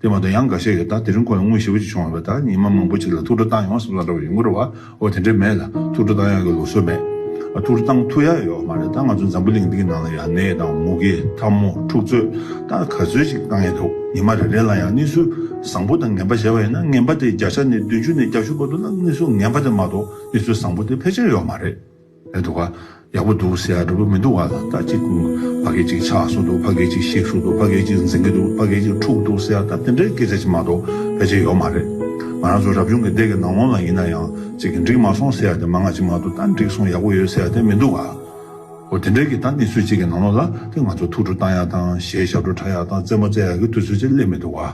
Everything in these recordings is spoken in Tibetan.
དེ་མ་གཏོགས་ཡང་འགའ་ཤས་ཡོད་ད་དེ་རིང་ཁོ་ལ་དངུལ་ཞེ་བོ་ཅིག་བྱུང་བ་རེད་ད་ཉིན་མ་མང་པོ་ཅིག་ལ་ཐུགས་སྤྲོ་བཏང་ཡོང་གསུངས་ལབ་འདྲ་བ་ཡོད་འགོ་རེད་བ་འོ་དེ་འདྲས་མེད་ལ་ཐུགས་སྤྲོ་བཏང་ཡོང་གི་ལོག་སྲོལ་མེད་ཨ་ཐུགས་སྤྲོ་བཏང་ཐུགས་ཡག་ཡོད་མ་རེད་ད་ང་ཚོ་འཛམ་བུ་གླིང་འདི་གི་ནང་ལ་ཡང་ནད་དང་མུ་གེ་འཐབ་མོ་འཁྲུག་རྩོད་ད་ག་ཚོད་ཅིག་བཏང་ཡས་འདུག་ཉིན་མ་རེ་རེ་ལ་ཡང་གནས་ཚུལ་བཟང་པོ་དང་ངན་པ་གཞལ་བ་ཡིན་ན་ངན་པ་དེ་བརྒྱ་ཆ་ནས་བདུན་ཅུ་ནས་བརྒྱ་བཞི་བར་དུ་ལ་གནས་ཚུལ་ངན་པ་དེ་མ་གཏོགས་གནས་ཚུལ་བཟང་པོ་དེ་ཕལ་ཆེར་ཡོད་མ་རེད། ཡག་འདུག་ག་ཡག་པོ་འདུག་ཟེར་ཡག་འདྲ་པོ་མི་འདུག་ག་ད་ཅིག་ཕ་གས་ཅིག་ཆགས་སོང་འདུག་ཕ་གས་ཅིག་ཤིག་ཤོར་འདུག་ཕ་གས་ཅིག་འཛིང་གི་འདུག་ཕ་གས་ཅིག་འཁྲུག་འདུག་ཟེར་ཡག་ད་དེ་འདྲའི་སྐད་ཆ་ཅིག་མ་གཏོགས་ཕལ་ཆེར་ཡོད་མ་རེད། ང་རང་ཚོ་རབ་བྱུང་གི་འདས་ཀྱི་ནང་ལོང་ལ་ཡིན་ན་ཡང་ཅིག་འགྲིག་མ་སོང་ཟེར་ཡག་དེ་མ་ང་ཅིག་མ་གཏོགས་ད་འགྲིག་སོང་ཡག་པོ་ཡོད་ཟེར་ཡག་དེ་མི་འདུག་ག། འོ་དེ་འདྲའི་གི་ད་གནས་ཚུལ་ཅིག་གི་ནང་ལོང་ལ་དེ་ང་ཚོ་ཐུགས་ཁྲོ་བཏང་ཡག་དང་གཞས་ཞབས་བྲོ་འཁྲབ་ཡག་དང་རྩེད་མོ་རྩེ་ཡག་གི་དུས་ཚོད་ཅིག་སླེབས་མི་འདུག་ག།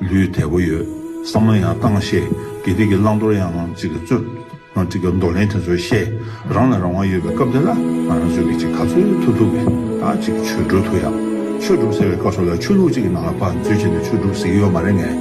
ལུས་དལ་པོ་ཡོད་བསམ་ན་ཡང་གཏང་བཤད་དགེ་སྡིག་གི་བླང་དོར་ཡང་ངང་ཅིག་རྩོད། འདོར་ལེན་དེ་ཚོ་བཤད་རང་ལ་རང་དབང་ཡོད་པའི་སྐབས་འདི་ལ་ང་རང་ཚོས་ཀྱི་ཅིག་ག་ཚོད་ཐུབ་ཐུབ་ཀྱི་ད་ཅིག་ཆོས་སྒྲུབ་ཐུབ་ཡག་ཆོས་སྒྲུབ་ཟེར་བའི་སྐབས་སོགས་ལ་ཆོས་ལུགས་ཅིག་གི་ནང་ལ་བར་མཛོད་བྱས་ནས་ཆོས་སྒྲུབ་ཟེར་གྱི་ཡོད་མ་རེད་ངས་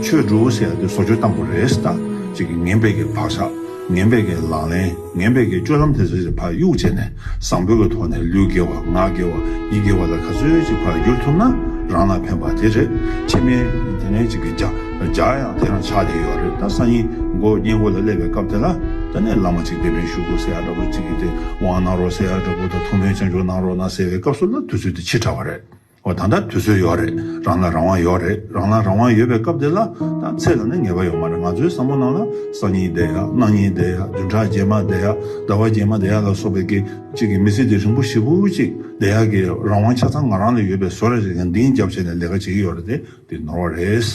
ཆོས་སྒྲུབ་ཟེར་ཡག་དེ་བཟོ་བཅོས་བཏང་དགོས་རེད་ད་ཅིག་ངན་པའི་གི་བག་ཆགས་ངན་པའི་གི་ལག་ལེན། ངན་བེད་ཀྱི་སྤྱོད་ལམ་དེ་ཚོའི་བར་གཡུག་བྱས་ནས་བཟང་པོའི་ཐོག་ནས་ལུས་དགེ་བ་ངག་དགེ་བ་ཡིད་དགེ་བ་ལ་ག་ཚོད་ཅིག་བར་བསྒྱུར་ཐུབ་ན་རང་ལ་ཕན་པ་དེ་རེད། ཕྱི་མའི་དེ་ནས་ཅིག་གི་ཇག་ཡང་དེ་རང་ཆགས་བསྡད་ཡོད་རེད་ད་སང་ཉིན་མགོ་བརྙན་མགོ་ལ་སླེབས་པའི་སྐབས་དེ་ལ་ད་ནས་བླ་མ་ཅིག་སྡེ་དཔོན་ཞུ་གོ་ཟེར་ཡ་འདྲ་པོ་ཅིག་གིས་སྟེས་དབང་གནང་རོགས་ཟེར་ཡ་འདྲ་པོ་ད་ཐུགས་སྨོན་ཆེན་ཆུང་གནང་རོགས་གནང་ཟེར་བའི་སྐབས་སུ་ལ་དུས་ཚོད་དེ་ཕྱིར་དྲགས་པ་རེད། ཨོ་ད་ལྟ་དུས་ཚོད་ཡོད་རེད་རང་ལ་རང་དབང་ཡོད་རེད་རང་ལ་རང་དབང་ཡོད་པའི་སྐབས་དེ་ལ་ད་ཚེས་ལ་ནི་ངེས་པ་ཡོད་མ་རེད་ང་ཚོའི་བསམ་བློ་ནང་ལ་སང་ཉིན་བསྡད་ཡ་གནངས་ཉིན་བསྡད་ཡ་བདུན་ཕྲག་རྗེས་མ་བསྡད་ཡ་ཟླ་བ་རྗེས་མ་བསྡད་ཡ་ལ་སོགས་པའི་གི་གཅིག་གི་མི་ཚེ་དེ་རིང་པོ་ཞེ་ཕུག་གཅིག་བསྡད་ཡ་གི་རང་དབང་ཆ་ཚང་ང་རང་ལ་ཡོད་པའི་བཟོ་རེད་རེད་ཀྱང་འདིང་རྒྱབ་བྱས་ནས་ལས་ཀ་བྱེད་ཀྱི་ཡོད་རེད་དེ་འདི་ནོར་བ་རེད།